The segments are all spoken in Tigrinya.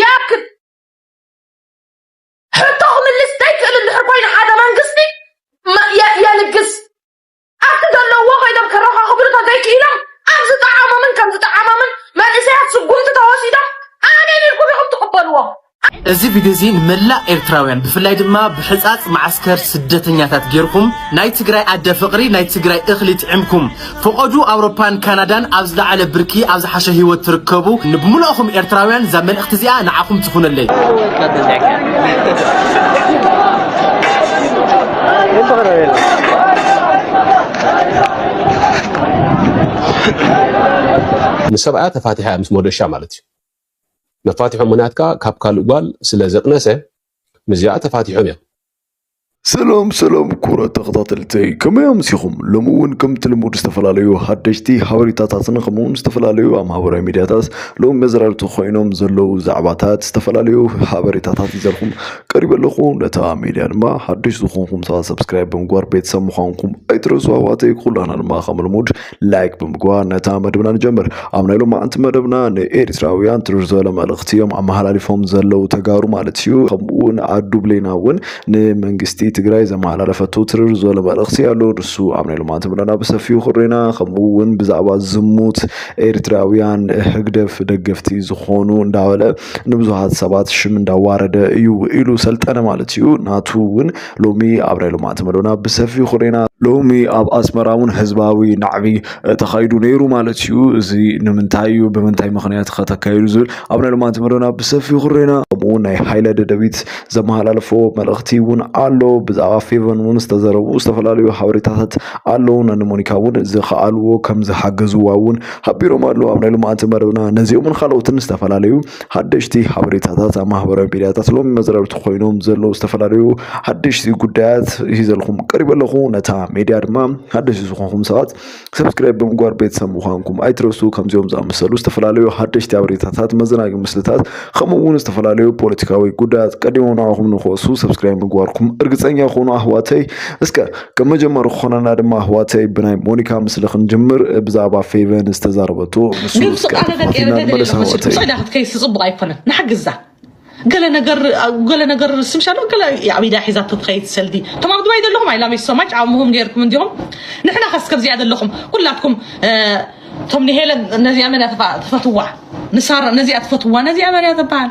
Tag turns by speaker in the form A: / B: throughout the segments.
A: ይኣክል ሕቶ ክምልስ ዘይክእል እንድሕር ኮይኑ ሓደ መንግስቲ የልግስ ኣብቲ ዘለውዎ ኮይኖም ከረኻኽብሉ ተዘይክኢሎም ኣብ ዝጠዓሞምን ከም ዝጠዓሞምን መንእሰያት ስጉምቲ ተወሲዶም ኣሜን ኢልኩም ኢኹም ትቕበልዎ እዚ
B: ቪድዮ እዚ ንመላእ ኤርትራውያን ብፍላይ ድማ ብሕፃፅ መዓስከር ስደተኛታት ጌርኩም ናይ ትግራይ ኣደ ፍቕሪ ናይ ትግራይ እኽሊ ጥዕምኩም ፍቐዱ ኣውሮፓን ካናዳን ኣብ ዝለዓለ ብርኪ ኣብ ዝሓሸ ሂወት ትርከቡ ንብሙሉእኹም ኤርትራውያን እዛ መልእኽቲ እዚኣ ንዓኹም ትኹነለይ።
C: ንሰብኣያ ተፋቲሓ እያ ምስ ሞደሻ ማለት እዩ መፋትሖም ምክንያት ከዓ ካብ ካልእ ጓል ስለ ዘቅነሰ ምስዚኣ ተፋቲሖም እዮም። ሰላም
D: ሰላም ክቡራት ተኸታተልተይ ከመይ ኣምሲኹም? ሎሚ እውን ከምቲ ልሙድ ዝተፈላለዩ ሓደሽቲ ሓበሬታታትን ከምኡ እውን ዝተፈላለዩ ኣብ ማህበራዊ ሚድያታት ሎሚ መዘራርብቲ ኮይኖም ዘለዉ ዛዕባታት ዝተፈላለዩ ሓበሬታታት ይዘልኩም ቀሪበ ኣለኹ። ነታ ሚድያ ድማ ሓደሽ ዝኾንኩም ሰባት ሰብስክራይብ ብምግባር ቤተሰብ ምዃንኩም ኣይትረሱ ኣሕዋተይ። ኩላትና ድማ ከም ልሙድ ላይክ ብምግባር ነታ መደብና ንጀምር ኣብ ናይ ሎማዓንቲ መደብና ንኤርትራውያን ትርር ዝበለ መልእኽቲ እዮም ኣመሓላሊፎም ዘለዉ ተጋሩ ማለት እዩ ከምኡ እውን ኣዱ ብሌና እውን ንመንግስቲ ትግራይ ዘመሓላለፈቱ ትርር ዝበለ መልእኽቲ ኣሎ ንሱ ኣብ ናይ ሎማዓንቲ መደብና ብሰፊኡ ክሬና ከምኡ እውን ብዛዕባ ዝሙት ኤርትራውያን ህግደፍ ደገፍቲ ዝኾኑ እንዳበለ ንብዙሃት ሰባት ሽም እንዳዋረደ እዩ ኢሉ ሰልጠነ ማለት እዩ ናቱ እውን ሎሚ ኣብ ናይ ልምዓት መደብና ብሰፊሑ ክሬና ሎሚ ኣብ ኣስመራ እውን ህዝባዊ ናዕቢ ተኻይዱ ነይሩ ማለት እዩ እዚ ንምንታይ እዩ ብምንታይ ምክንያት ከተካይዱ ዝብል ኣብ ናይ ልማንቲ መደና ብሰፊሑ ክሬና ከምኡ ናይ ሃይለ ደደቢት ዘመሃላለፎ መልእኽቲ እውን ኣሎ ብዛዕባ ፌቨን እውን ዝተዘረቡ ዝተፈላለዩ ሓበሬታታት ኣለዉ ነንሞኒካ እውን ዝኸኣልዎ ከም ዝሓገዝዋ እውን ሓቢሮም ኣለዉ ኣብ ናይ ልማንቲ መደብና ነዚኦምን ካልኦትን ዝተፈላለዩ ሓደሽቲ ሓበሬታታት ኣብ ማህበራዊ ሚድያታት ሎሚ መዝረብቲ ኮይኖም ዘለዉ ዝተፈላለዩ ሓደሽቲ ጉዳያት ሂዘልኩም ቀሪበ ኣለኹ ነታ ሜድያ ድማ ሓደሽቲ ዝኾንኩም ሰባት ሰብስክራይብ ብምግባር ቤተሰብ ምዃንኩም ኣይትረሱ ከምዚኦም ዝኣመሰሉ ዝተፈላለዩ ሓደሽቲ ሓበሬታታት መዘናጊ ምስልታት ከምኡ እውን ዝተፈላለዩ ፖለቲካዊ ጉዳያት ቀዲሞም ንዓኹም ንክወሱ ሰብስክራይብ ምግባርኩም እርግፀኛ ይኹኑ ኣህዋተይ እስከ ከም መጀመሪ ክኾነና ድማ ኣሕዋተይ ብናይ ሞኒካ ምስሊ ክንጅምር ብዛዕባ ፌቨን ዝተዛረበቶ ንሱ ግን እስከ ቃለ ደቂ ተኸታቲልና ኤረገ ንመለስ ደለኹ ኣሕዋተይ
A: ስዕዳ ክትከይስ ጽቡቕ ኣይኮነን ንሓግዛ ገለ ነገር ገለ ነገር ስምሻሎ ገለ ኣብ ኢዳ ሒዛቶ ትኸይድ ሰልዲ እቶም ኣብ ዱባይ ዘለኹም ኣይ ላቭ ዩ ሶ ማች ዓቕምኹም ገይርኩም እንዲኹም ንሕና ከስ ከምዚኣ ዘለኹም ኩላትኩም እ፣ እቶም ንሄለን ነዚኣ መን እያ ተፋ- ትፈትዋ ንሳራ ነዚኣ ትፈትዋ ነዚኣ መን እያ ትበሃል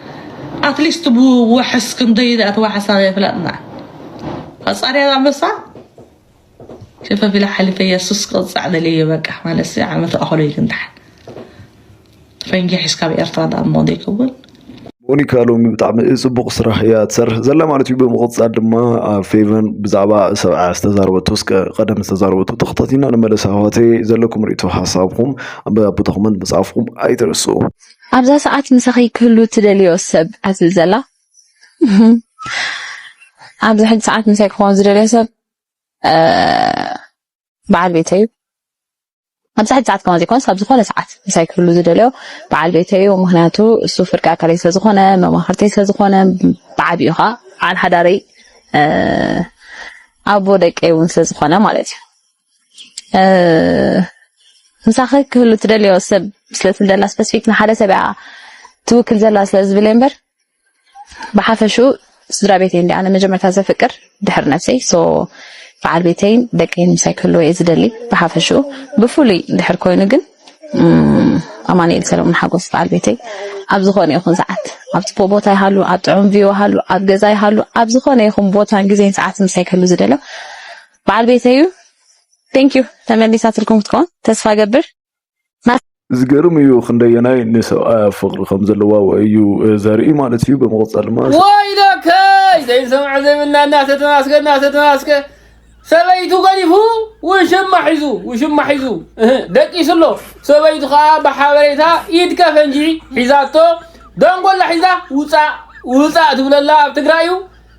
A: ኣትሊስት ብዋሕስ ክንደይ ድኣ ተዋሕሳ የፍለጥና ፈፃሪ ኣንበሳ ሸፈፊላ ሓሊፈ የሱስ ቅፃዕ ደልየ በቃ ማለሲ ዓመ ተኣኸሎ ይግንታሕ ፈንጂ ሒዝካ ኣብ ኤርትራ ዳኣ እሞ ዘይከውን ሞኒካ
D: ሎሚ ብጣዕሚ ፅቡቅ ስራሕ እያ ትሰርሕ ዘላ ማለት እዩ ብምቕፃል ድማ ፌቨን ብዛዕባ ሰብዓ ዝተዛረበቶ እስከ ቀደም ዝተዛረበቶ ተኸታቲና ንመለስ ኣህዋተይ ዘለኩም ርእቶ ሓሳብኩም ኣብ ቦታኹምን ምፅሓፍኩም ኣይትረስኡ ኣብዛ
E: ሰዓት ምሳኺ ክህሉ እትደልይዮ ሰብ ኣትብል ዘላ? ኣብዚ ሕጂ ሰዓት ምሳይ ክኾን ዝደልዮ ሰብ በዓል ቤተይ እዩ። ኣብዚ ሕጂ ሰዓት ከማን ዘይኮነስ ኣብ ዝኾነ ሰዓት ምሳይ ክህሉ ዝደልዮ በዓል ቤተይ እዩ። ምክንያቱ እሱ ፍርቂ ኣካለይ ስለ ዝኾነ፣ መማኽርተይ ስለ ዝኾነ፣ ብዓቢኡ ኸኣ በዓል ሓዳረይ ኣቦ ደቀይ እውን ስለ ዝኾነ ማለት እዩ። ምሳኺ ክህሉ ትደልዮ ሰብ ስለ ትብለላ ስፐሲፊክ ንሓደ ሰብ እያ ትውክል ዘላ ስለ ዝብል እምበር ብሓፈሽኡ ስድራ ቤተይ እንዲ ኣነ መጀመርታ ዘፍቅር ድሕሪ ነብሰይ ሶ በዓል ቤተይን ደቀይን ምሳይ ክህልዎ እየ ዝደሊ ብሓፈሽኡ ብፍሉይ ድሕር ኮይኑ ግን ኣማኒኤል ሰለሙን ሓጎስ በዓል ቤተይ ኣብ ዝኾነ ይኹን ሰዓት ኣብ ፅቡቅ ቦታ ይሃሉ ኣብ ጥዑም ቪዮ ይሃሉ ኣብ ገዛ ይሃሉ ኣብ ዝኾነ ይኹን ቦታን ግዜን ሰዓት ምሳይ ክህሉ ዝደልዮ በዓል ቤተዩ Thank you ተመሊሳትልኩም ክትከውን ተስፋ እገብር።
D: ዝገርም እዩ ክንደየናይ ንሰብኣያ ፍቅሪ ከም ዘለዋ እዩ ዘርኢ ማለት እዩ ብምቕፀል ማ ወይለከይ
F: ዘይሰምዐ ዘይብልና እናተተማስገ እናተተማስገ ሰበይቱ ገዲፉ ውሽማ ሒዙ ውሽማ ሒዙ ደቂሱ ኣሎ ሰበይቱ ከዓ ብሓበሬታ ኢድ ከፈንጂ ሒዛቶ ደንጎላ ሒዛ ውፃእ ውፃእ ትብለላ ኣብ ትግራይ እዩ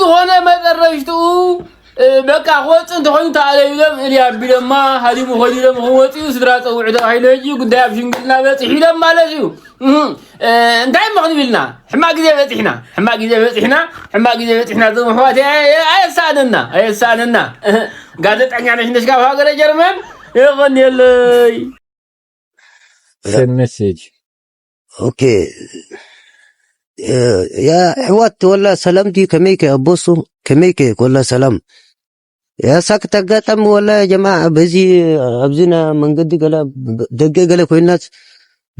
F: ዝኾነ መጠረሽትኡ በቃ ክወፅ እንተኾይኑ ተኣለዩሎም እልያ ኣቢሎማ ሃዲሙ ኮይኑሎም ክወፅኡ ስድራ ፀውዑ ተባሂሉ ሕጂ ጉዳይ ኣብ ሽምግልና በፂሑ ኢሎም ማለት እዩ እንታይ እሞ ክንብል ኢና ሕማቅ ግዜ በፂሕና ሕማቅ ግዜ በፂሕና ሕማቅ ግዜ በፂሕና እዞም ኣሕዋት ኣየሳእነና ኣየሳእነና ጋዜጠኛ ነሽነሽ ካብ ሃገረ ጀርመን የቀንየለይ
G: ሜሴጅ
H: ኦኬ ያ ኣሕዋት ወላ ሰላም ድዩ ከመይከ ኣቦሱ ከመይከ ወላ ሰላም ያሳክ ተጋጣሚ ወላ ጀማ በዚ ኣብዚና መንገዲ ገለ ደገ ገለ ኮይናት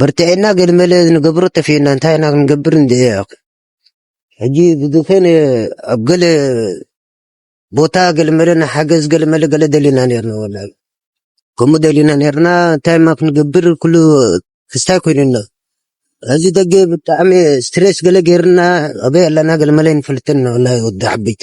H: በርትዐና ገለ መለ ንገብሮ ጠፊእና እንታይ ኢና ክንገብር እንደ ሕጂ ብዝኾነ ኣብ ገለ ቦታ ገለ መለ ንሓገዝ ገለ መለ ገለ ደሊና ነርና ወላ ከምኡ ደሊና ነርና እንታይ ማ ክንገብር ኩሉ ክስታይ ኮይኑና እዚ ደገ ብጣዕሚ ስትሬስ ገለ ገይርና ኣበይ ኣለና ገለ መለ ንፈልጥን ወላ ወዲ ዓበይቲ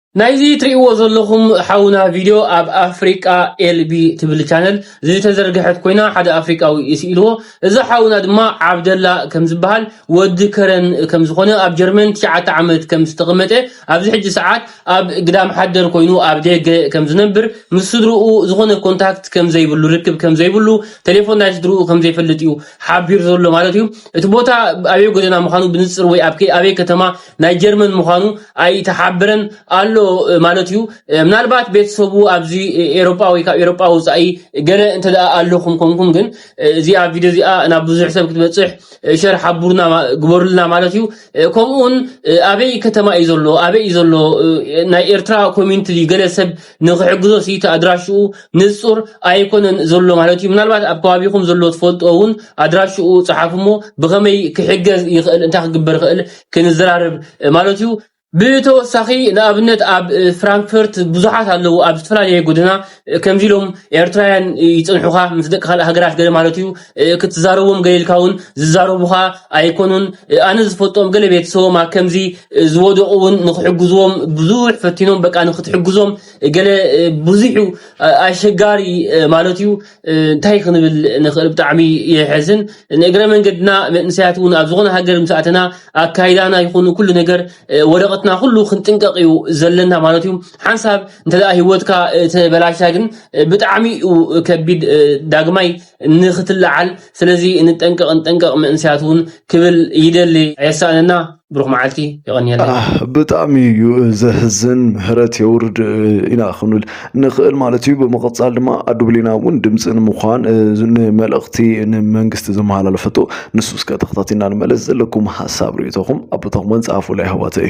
F: ናይዚ ትሪእዎ ዘለኹም ሓውና ቪድዮ ኣብ ኣፍሪቃ ኤልቢ ትብል ቻነል ዝተዘርግሐት ኮይና ሓደ ኣፍሪቃዊ ስኢልዎ እዚ ሓውና ድማ ዓብደላ ከም ዝበሃል ወዲ ከረን ከም ዝኾነ ኣብ ጀርመን ትሽዓተ ዓመት ከም ዝተቐመጠ ኣብዚ ሕጂ ሰዓት ኣብ ግዳም ሓደር ኮይኑ ኣብ ደገ ከም ዝነብር ምስ ስድርኡ ዝኾነ ኮንታክት ከም ዘይብሉ ርክብ ከም ዘይብሉ ቴሌፎን ናይ ስድርኡ ከም ዘይፈልጥ እዩ ሓቢሩ ዘሎ ማለት እዩ እቲ ቦታ ኣበይ ጎደና ምዃኑ ብንጽር ወይ ኣብ ኣበይ ከተማ ናይ ጀርመን ምዃኑ ኣይተሓብረን ኣሎ ማለት እዩ ምናልባት ቤተሰቡ ኣብዚ ኤሮጳ ወይ ካብ ኤሮጳ ውፃኢ ገለ እንተ ኣለኹም ኮንኩም ግን እዚኣ ቪድዮ እዚኣ ናብ ብዙሕ ሰብ ክትበፅሕ ሸር ሓቡርና ግበሩልና ማለት እዩ ከምኡውን ኣበይ ከተማ እዩ ዘሎ ኣበይ እዩ ዘሎ ናይ ኤርትራ ኮሚኒቲ ገለ ሰብ ንኽሕግዞ ሲ እቲ ኣድራሽኡ ንጹር ኣይኮነን ዘሎ ማለት እዩ ምናልባት ኣብ ከባቢኹም ዘሎ ትፈልጦ እውን ኣድራሽኡ ጸሓፉ እሞ ብኸመይ ክሕገዝ ይኽእል እንታይ ክግበር ይኽእል ክንዘራረብ ማለት እዩ ብተወሳኺ ንኣብነት ኣብ ፍራንክፈርት ብዙሓት ኣለዉ ኣብ ዝተፈላለየ ጎደና ከምዚ ኢሎም ኤርትራውያን ይጽንሑኻ ምስ ደቂ ካልእ ሃገራት ገለ ማለት እዩ ክትዛረቦም ገለ ኢልካ እውን ዝዛረቡኻ ኣይኮኑን ኣነ ዝፈልጦም ገለ ቤተሰቦም ኣብ ከምዚ ዝወደቑ እውን ንክሕግዝዎም ብዙሕ ፈቲኖም በቃ ንክትሕግዞም ገለ ብዙሕ እዩ ኣሸጋሪ ማለት እዩ እንታይ ክንብል ንኽእል ብጣዕሚ የሕዝን ንእግረ መንገድና መንእሰያት እውን ኣብ ዝኾነ ሃገር ምስ ኣተና ኣካይዳና ይኹን ኩሉ ነገር ወረቐትና ኩሉ ክንጥንቀቕ እዩ ዘለና ማለት እዩ ሓንሳብ እንተ ሂወትካ ተበላሻ ግን ብጣዕሚ እዩ ከቢድ ዳግማይ ንክትለዓል ስለዚ ንጠንቀቅ ንጠንቀቅ መንእሰያት ውን ክብል ይደሊ ኣየሳእነና ብሩክ መዓልቲ የቀንየለይ። ብጣዕሚ
D: እዩ ዘሕዝን ምህረት የውርድ ኢና ክንብል ንኽእል ማለት እዩ። ብምቕጻል ድማ ኣዱ ብሌና እውን ድምፂ ንምዃን ንመልእኽቲ ንመንግስቲ ዘመሓላለፈቶ ንሱ እስከ ተኸታቲልና ንመለስ ዘለኩም ሓሳብ ርእይቶኹም ኣቦታኹም ጸሓፉላ የሕዋተይ።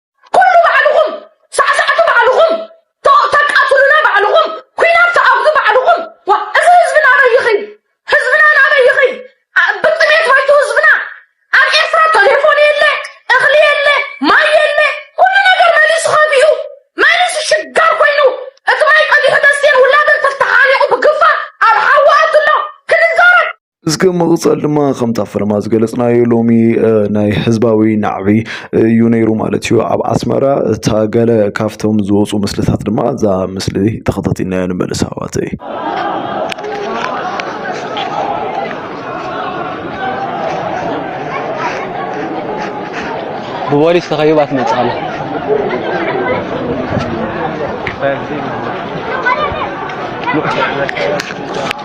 I: ኩሉ ባዕልኹም ሳዕሳዕቲ ባዕልኹም ተ- ተቃትሉና ባዕልኹም ኩናት ተኣውጁ ባዕልኹም ዋ እዚ ህዝቢ ናበይ ይኸይድ ህዝብና ናበይ ይኸይድ ኣ- ብጥሜት መይቱ ህዝብና ኣብ ኤርትራ ቴሌፎን የለ እኽሊ የለ ማይ የለ ኩሉ ነገር መሊሱ ከቢኡ
D: መሊሱ ሽጋር ኮይኑ እቲ ማይ ቀዲሑ ደሴን ውላድን ተተሓኒቑ ብግፋ ኣብ ሓዊ ኣትሎ ክንዛረብ እስከ መቕጸል ድማ ከምታ ፈለማ ዝገለጽናዮ ሎሚ ናይ ህዝባዊ ናዕቢ እዩ ነይሩ ማለት እዩ ኣብ ኣስመራ እታ ገለ ካብቶም ዝወፁ ምስልታት ድማ እዛ ምስሊ ተኸታቲልና ንመልስ ኣሕዋተይ
B: ብፖሊስ ተኸቢባ ትመፅእ ኣላ Thank you.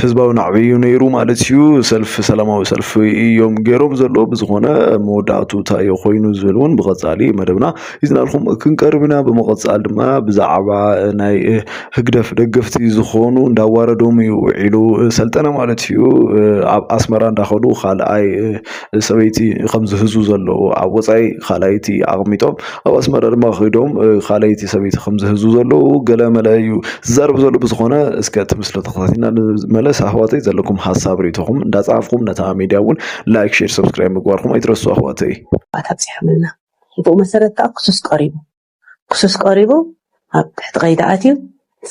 D: ህዝባዊ ናዕቢ እዩ ነይሩ ማለት እዩ ሰልፊ ሰላማዊ ሰልፊ እዮም ገይሮም ዘሎ ብዝኾነ መወዳእቱ እንታይ ኮይኑ ዝብል እውን ብቐፃሊ መደብና ይዝናልኩም ክንቀርብ ኢና ብምቐፃል ድማ ብዛዕባ ናይ ህግደፍ ደገፍቲ ዝኾኑ እንዳዋረዶም እዩ ውዒሉ ሰልጠነ ማለት እዩ ኣብ ኣስመራ እንዳኸዱ ካልኣይ ሰበይቲ ከም ዝሕዙ ዘለዉ ኣብ ወጻኢ ካልኣይቲ ኣቕሚጦም ኣብ ኣስመራ ድማ ከይዶም ካልኣይቲ ሰበይቲ ከም ዝሕዙ ዘለዉ ገለ መለ እዩ ዝዛረብ ዘሎ ብዝኾነ እስከ እቲ ምስሊ ተኸታቲልና ንመለስ ኣሕዋተይ ዘለኩም ሓሳብ ርእቶኹም እንዳጻፍኩም ነታ ሚድያ እውን ላይክ ሼር ሰብስክራይብ ምግባርኩም ኣይትረሱ ኣሕዋተይ ኣብጽሖምልና
J: ብኡ መሰረት ከዓ ክሱስ ቀሪቡ ክሱስ ቀሪቡ ኣብ ትሕቲ ቀይዲ ኣትዩ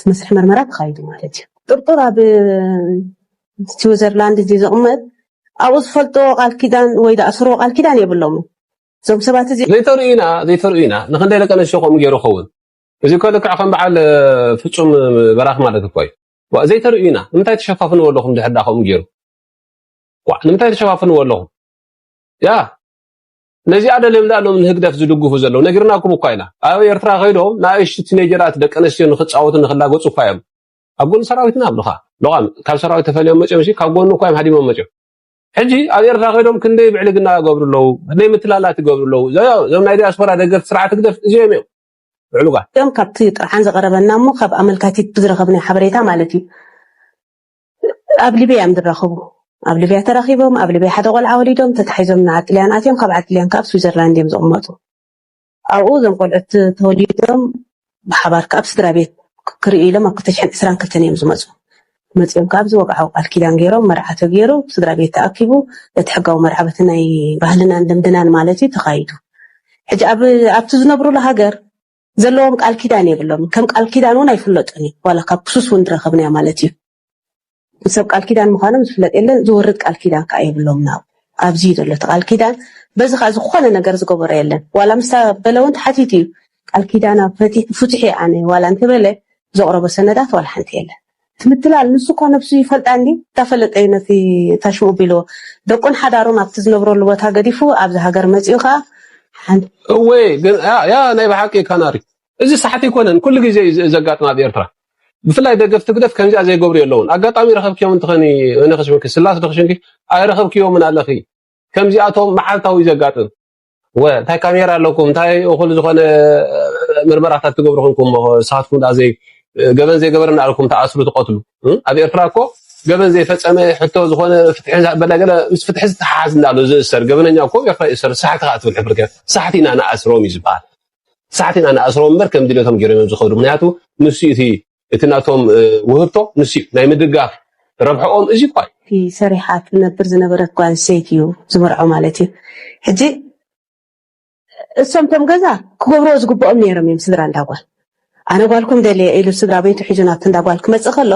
J: መስርሕ ምርመራ ተኻይዱ ማለት እዩ። ጥርጡር ኣብ ስዊዘርላንድ ድዩ ዝቕመጥ ኣብኡ ዝፈልጥዎ ቃል ኪዳን ወይ ዝኣስርዎ ቃል ኪዳን የብሎምን እዞም ሰባት እዚ ዘይተርእዩና ዘይተርእዩና
C: ንክንደይ ደቂ ኣንስትዮ ከምኡ ገይሩ ይኸውን እዚ እኮ ልክዕ ከም በዓል ፍጹም በራኽ ማለት እኮ እዩ ዋእ ዘይተርእዩና ንምንታይ ተሸፋፍንዎ ኣለኹም ድሕር ዳ ከምኡ ገይሩ ዋእ ንምንታይ ተሸፋፍንዎ ኣለኹም ያ ነዚኣ ደልዮም ድኣ ሎም ንህግደፍ ዝድግፉ ዘለዉ ነጊርናኩም እኳ ኢና ኣብ ኤርትራ ከይዶም ንኣሽቱ ቲኔጀራት ደቂ ኣንስትዮ ንክጻወቱ ንክላገጹ እኳ እዮም ኣብ ጎኒ ሰራዊትና ኣብልኻ ሎቓም ካብ ሰራዊት ተፈልዮም መጽዮም ሲ ካብ ጎኑ እኳ እዮም ሃዲሞም መጽዮም ሕጂ ኣብ ኤርትራ ከይዶም ክንደይ ብዕልግና ይገብሩ ኣለዉ ክንደይ ምትላላት ይገብሩ ኣለዉ እዞም ናይ ዲያስፖራ ደገፍቲ ስርዓት ህግደፍ እዚኦም እዮም ብዕሉጋት እዮም ካብቲ
J: ጥርዓን ዝቐረበና እሞ ካብ ኣመልካቲት ብዝረኸብናዮ ሓበሬታ ማለት እዩ ኣብ ሊብያ እዮም ዝራኸቡ። ኣብ ሊብያ ተራኺቦም፣ ኣብ ሊብያ ሓደ ቆልዓ ወሊዶም፣ ተታሒዞም ንዓዲ ጥልያን ኣትዮም፣ ካብ ዓዲ ጥልያን ከኣ ኣብ ስዊዘርላንድ እዮም ዝቕመጡ። ኣብኡ እዞም ቆልዑት ተወሊዶም ብሓባር ከኣ ኣብ ስድራቤት ክርእዩ ኢሎም ኣብ ክልተ ሽሕን ዕስራን ክልተን እዮም ዝመጹ። መጺኦም ከኣ ኣብዚ ወግዓዊ ቃል ኪዳን ገይሮም፣ መርዓ ተገይሩ፣ ስድራቤት ተኣኪቡ፣ እቲ ሕጋዊ መርዓ በቲ ናይ ባህልናን ልምድናን ማለት እዩ ተኻይዱ። ሕጂ ኣብ ኣብቲ ዝነብሩሉ ሃገር ዘለዎም ቃል ኪዳን የብሎምን ከም ቃል ኪዳን እውን ኣይፍለጡን እዩ ዋላ ካብ ክሱስ እውን ዝረኸብናዮ ማለት እዩ ሰብ ቃል ኪዳን ምዃኖም ዝፍለጥ የለን ዝወርድ ቃል ኪዳን ከዓ የብሎምን ኣብ ኣብዚ እዩ ዘሎ እቲ ቃል ኪዳን በዚ ከዓ ዝኾነ ነገር ዝገበሮ የለን ዋላ ምስታ በለ እውን ተሓቲቱ እዩ ቃል ኪዳና ፍትሒ ኣነ ዋላ እንተበለ ዘቕረቦ ሰነዳት ዋላ ሓንቲ የለን እቲ ምትላል ንሱ እኳ ነብሱ ይፈልጣ እንድዩ እንዳፈለጠ እዩ ነቲ እታ ሽምኡ ቢልዎ ደቁን ሓዳሩን ኣብቲ ዝነብረሉ ቦታ ገዲፉ ኣብዚ ሃገር መጺኡ ከኣ ሓንቲ እወ
C: ግን ያ ያ ናይ ብሓቂ ካናሪ እዚ ሳሕቲ ኣይኮነን ኩሉ ግዜ እዩ ዘጋጥም ኣብ ኤርትራ ብፍላይ ደገፍቲ ህግደፍ ከምዚኣ ዘይገብሩ የለውን ኣጋጣሚ ረኸብክዮም እንትኸኒ እነ ክሽምኪ ስላስ ዶ ክሽምኪ ኣይረኸብክዮምን ኣለኺ ከምዚኣቶም መዓልታዊ እዩ ዘጋጥም እወ እንታይ ካሜራ ኣለኩም እንታይ እኹል ዝኾነ ምርመራታት ትገብሩ ኮንኩም እሞ ንስኻትኩም ደኣ ዘይ ገበን ዘይገበረ እናኣልኩም ተኣስሩ ትቐትሉ ኣብ ኤርትራ እኮ ገበን ዘይፈጸመ ሕቶ ዝኾነ ፍትሒ ዝበላ ገለ ምስ ፍትሒ ዝተሓሓዝ እንዳሎ ዝእሰር ገበነኛ እኮ ኣብ ኤርትራ ይእሰር ሳሕቲ ከዓ ትብል ሕፍር ሳሕቲ ኢና ንኣስሮም እዩ ዝበሃል ሳሕቲ ኢና ንኣስሮም እምበር ከም ድልቶም ገይሮም እዮም ዝኸዱ ምክንያቱ ንሱ እቲ እቲ ናቶም ውህብቶ ንሱ እዩ። ናይ ምድጋፍ ረብሕኦም እዚ እኳ እዩ። እቲ ሰሪሓ ትነብር
J: ዝነበረት ጓል ኣንስተይቲ እዩ ዝመርዖ ማለት እዩ። ሕጂ እሶም እቶም ገዛ ክገብርዎ ዝግብኦም ነይሮም እዮም ስድራ እንዳ ጓል። ኣነ ጓልኩም ደልየ ኢሉ ስድራ ቤቱ ሒዙ ናብቲ እንዳ ጓል ክመጽእ ከሎ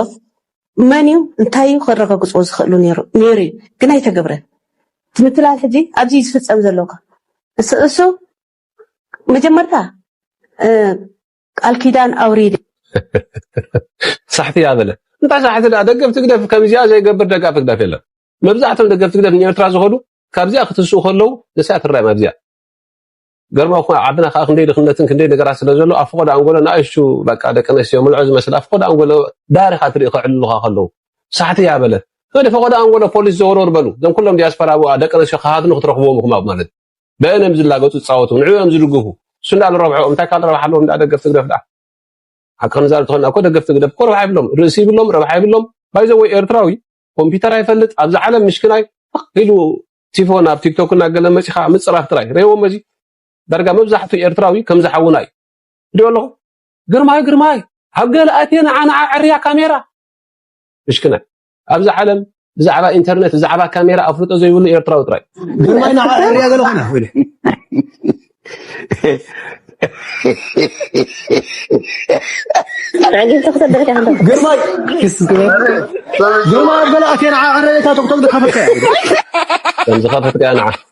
J: መን እዩ እንታይ እዩ ከረጋግጽዎ ዝኽእሉ ነይሩ ነይሩ እዩ ግን ኣይተገብረን። እቲ ምትላል ሕጂ ኣብዚ እዩ ዝፍጸም ዘሎ እኮ እሱ እሱ መጀመርታ ቃል ኪዳን ኣውሪድ።
C: ሳሕቲ እያ በለ እንታይ ሳሕቲ ድኣ ደገፍቲ ግደፍ ከምዚኣ ዘይገብር ደጋፊ ግደፍ የለን መብዛሕቶም ደገፍቲ ግደፍ ንኤርትራ ዝኸዱ ካብዚኣ ክትስኡ ከለዉ ንስያ ትረኣዮም ኣብዚኣ ገርማ እኳ ዓድና ከዓ ክንደይ ድኽነትን ክንደይ ነገራት ስለ ዘሎ ኣብ ፍቆዶ ኣንጎሎ ንኣይሹ በቃ ደቂ ኣንስትዮ ምልዖ ዝመስል ኣብ ፍቆዶ ኣንጎሎ ዳሪኻ ትርኢ ከዕልሉኻ ከለዉ ሳሕቲ እያ በለ ወደ ፈቆዶ ኣንጎሎ ፖሊስ ዘወርወር በሉ እዞም ኩሎም ዲያስፖራ ደቂ ኣንስትዮ ክሃድኑ ክትረኽብዎም ኢኹም ኣብ ማለት በእነም ዝላገጹ ዝጻወቱ ንዕኦም ዝድግፉ እሱ እንዳ ንረብሐኦም እንታይ ካል ረብሓ ኣለዎም እንዳ ደገፍቲ ህግደፍ ድኣ ሓቂ ክንዛረብ ተኾና እኮ ደገፍቲ ህግደፍ እኮ ረብሓ ይብሎም ርእሲ ይብሎም ረብሓ ይብሎም ባይዘ ወይ ኤርትራዊ ኮምፒውተር ኣይፈልጥ ኣብዚ ዓለም ምሽክናይ ፍቕ ኢሉ ቲፎ ናብ ቲክቶክ እና ገለ መጺኻ ምጽራፍ ጥራይ ረይዎም እዚ ዳርጋ መብዛሕቱ ኤርትራዊ ከም ዝሓውና እዩ እዲዮ ኣለኹ ግርማይ ግርማይ ኣብ ገለ ኣቴ ንዓና ዕርያ ካሜራ ምሽክናይ ኣብዛ ዓለም ብዛዕባ ኢንተርነት ብዛዕባ ካሜራ ኣፍልጦ ዘይብሉ ኤርትራዊ ጥራይ ግርማይ ንዓ ሕርያ
H: ገለ ኮነ ወይለ ግርማይ ግርማይ ኣበላእቴ ንዓ ዕረየታ ቶክቶክ ዝከፈትካያ
C: ከምዝከፈትካያ ንዓ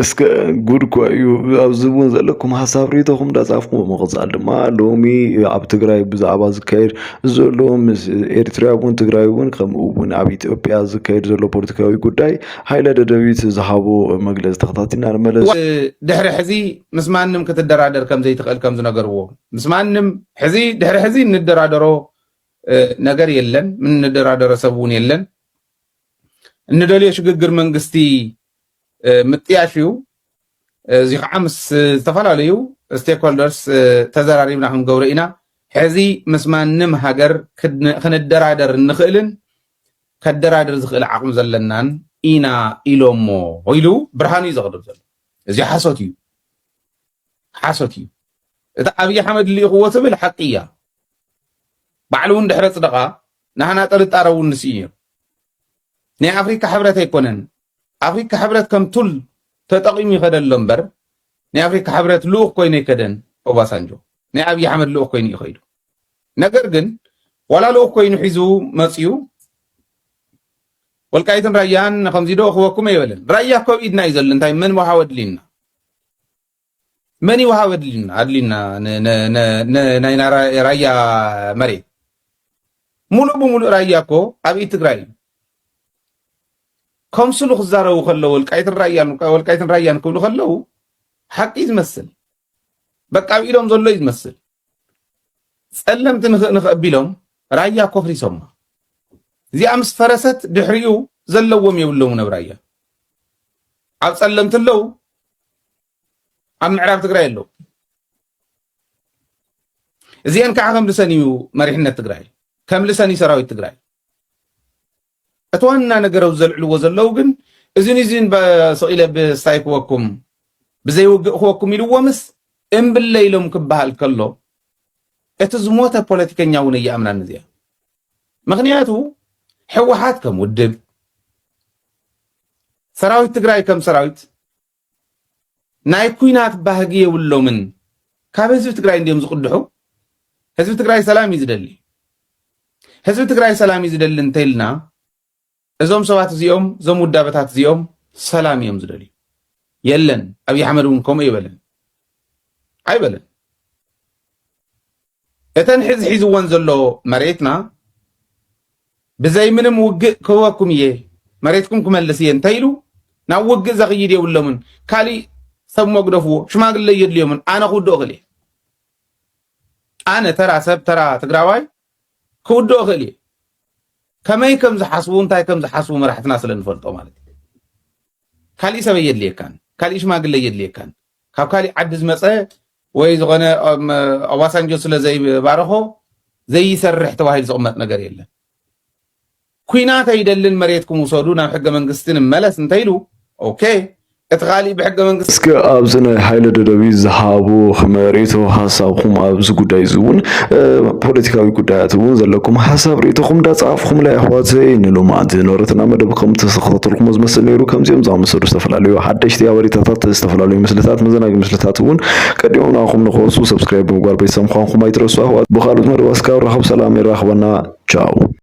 D: እስከ ጉድ እኳ እዩ ኣብዚ እውን ዘለኩም ሓሳብ ርኢቶኹም እንዳጻፍኩም ብምቕጻል ድማ ሎሚ ኣብ ትግራይ ብዛዕባ ዝካየድ ዘሎ ምስ ኤርትራ እውን ትግራይ እውን ከምኡ እውን ኣብ ኢትዮጵያ ዝካየድ ዘሎ ፖለቲካዊ ጉዳይ ሃይለ ደደቢት ዝሃቦ መግለጺ ተኸታቲልና ንመለስ። ድሕሪ ሕዚ
K: ምስ ማንም ክትደራደር ከም ዘይትኽእል ከም ዝነገርዎ ምስ ማንም ሕዚ ድሕሪ ሕዚ እንደራደሮ ነገር የለን እንደራደሮ ሰብ እውን የለን እንደልዮ ሽግግር መንግስቲ ምጥያሽ እዩ። እዚ ከዓ ምስ ዝተፈላለዩ ስቴክሆልደርስ ተዘራሪብና ክንገብሮ ኢና ሕዚ ምስ ማንም ሃገር ክንደራደር እንኽእልን ከደራድር ዝኽእል ዓቕሚ ዘለናን ኢና ኢሎሞ ኢሉ ብርሃኑ እዩ ዘቕርብ ዘሎ እዚ ሓሶት እዩ ሓሶት እዩ እቲ ኣብዪ ሓመድ ልኢኽዎ ትብል ሓቂ እያ ባዕሉ እውን ድሕረ ፅደቓ ናህና ጥርጣረ እውን ንስኢ ነይሩ ናይ ኣፍሪካ ሕብረት ኣይኮነን ኣፍሪካ ሕብረት ከም ቱል ተጠቂሙ ይኸደ ኣሎ እምበር ናይ ኣፍሪካ ሕብረት ልኡኽ ኮይኑ ኣይከደን ኦባሳንጆ ናይ ኣብዪ ኣሕመድ ልኡኽ ኮይኑ እዩ ከይዱ ነገር ግን ዋላ ልኡኽ ኮይኑ ሒዙ መፅዩ ወልቃይትን ራያን ከምዚ ዶ ክበኩም ኣይበለን ራያ ኮብ ኢድና እዩ ዘሎ እንታይ ምን ውሃ ወድሊና መን ይውሃብ ኣድልዩና ናይ ራያ መሬት ሙሉእ ብሙሉእ ራያ እኮ ኣብ ኢድ ትግራይ እዩ። ከምስሉ ክዛረቡ ከለው ወልቃይትን ራያን ወልቃይትን ራያን ክብሉ ከለው ሓቂ ዝመስል በቃ ኣብ ኢዶም ዘሎ እዩ ዝመስል። ጸለምቲ ንኽእ ንኽእ ኣቢሎም ራያ ኮፍሪሶማ እዚኣ ምስ ፈረሰት ድሕሪኡ ዘለዎም የብሎምን ኣብ ራያ ኣብ ጸለምቲ ኣለው ኣብ ምዕራብ ትግራይ ኣለዉ እዚአን ከዓ ከምልሰን እዩ መሪሕነት ትግራይ ከምልሰን እዩ ሰራዊት ትግራይ እቲ ዋና ነገር ኣብ ዘልዕልዎ ዘለዉ ግን እዚን እዚን ስቂለ ብስታይ ክወኩም ብዘይውግእ ክወኩም ኢልዎምስ እምብለ ኢሎም ክበሃል ከሎ እቲ ዝሞተ ፖለቲከኛ እውን እየኣምናን እዚኣ ምኽንያቱ ሕወሓት ከም ውድብ ሰራዊት ትግራይ ከም ሰራዊት ናይ ኩናት ባህጊ የብሎምን ካብ ህዝቢ ትግራይ እንዲም ዝቕድሑ ህዝቢ ትግራይ ሰላም እዩ ዝደሊ ህዝቢ ትግራይ ሰላም እዩ ዝደሊ እንተይልና እዞም ሰባት እዚኦም እዞም ውዳበታት እዚኦም ሰላም እዮም ዝደልዩ የለን ኣብይ ኣሕመድ እውን ከምኡ ይበለን ኣይበለን እተን ሕዚ ሒዝወን ዘሎ መሬትና ብዘይ ምንም ውግእ ክህበኩም እየ መሬትኩም ክመልስ እየ እንተኢሉ ናብ ውግእ ዘኽይድ የብሎምን ካሊእ ሰብ መግደፍዎ ሽማግለ የድልዮምን ኣነ ክውድኦ ክእል እየ ኣነ ተራ ሰብ ተራ ትግራዋይ ክውድኦ ይኽእል እዩ ከመይ ከም ዝሓስቡ እንታይ ከም ዝሓስቡ መራሕትና ስለ ንፈልጦ ማለት እዩ ካሊእ ሰበይ የድልየካን ካሊእ ሽማግለ የድልየካን ካብ ካሊእ ዓዲ ዝመፀ ወይ ዝኾነ ኦባሳንጆ ስለ ዘይባረኾ ዘይሰርሕ ተባሂሉ ዝቕመጥ ነገር የለን ኩናት ኣይደልን መሬትኩም ውሰዱ ናብ ሕገ መንግስቲ ንመለስ እንተይሉ ኦኬ እቲ ካሊእ ብሕገ መንግስቲ እስከ ኣብዚ ናይ
D: ሃይለ ደደቢት ዝሃቦ መሬቶ ሓሳብኩም ኣብዚ ጉዳይ እዚ እውን ፖለቲካዊ ጉዳያት እውን ዘለኩም ሓሳብ ርእቶኹም ዳፃፍኹምላይ ኣሕዋተይ ንሎማዓንቲ ዝነበረትና መደብ ከም ተኸታተልኩሞ ዝመስል ነይሩ ከምዚኦም ዝኣመሰሉ ዝተፈላለዩ ሓደሽቲ ሓበሬታታት ዝተፈላለዩ ምስልታት መዘናጊ ምስልታት እውን ቀዲሞም ንኣኹም ንክወሱ ሰብስክራይብ ብምግባር ቤተሰብ ምዃንኩም ኣይትረሱ ኣሕዋት ብካልኦት መደባት እስካብ ራኸብ ሰላም የራኽበና ቻው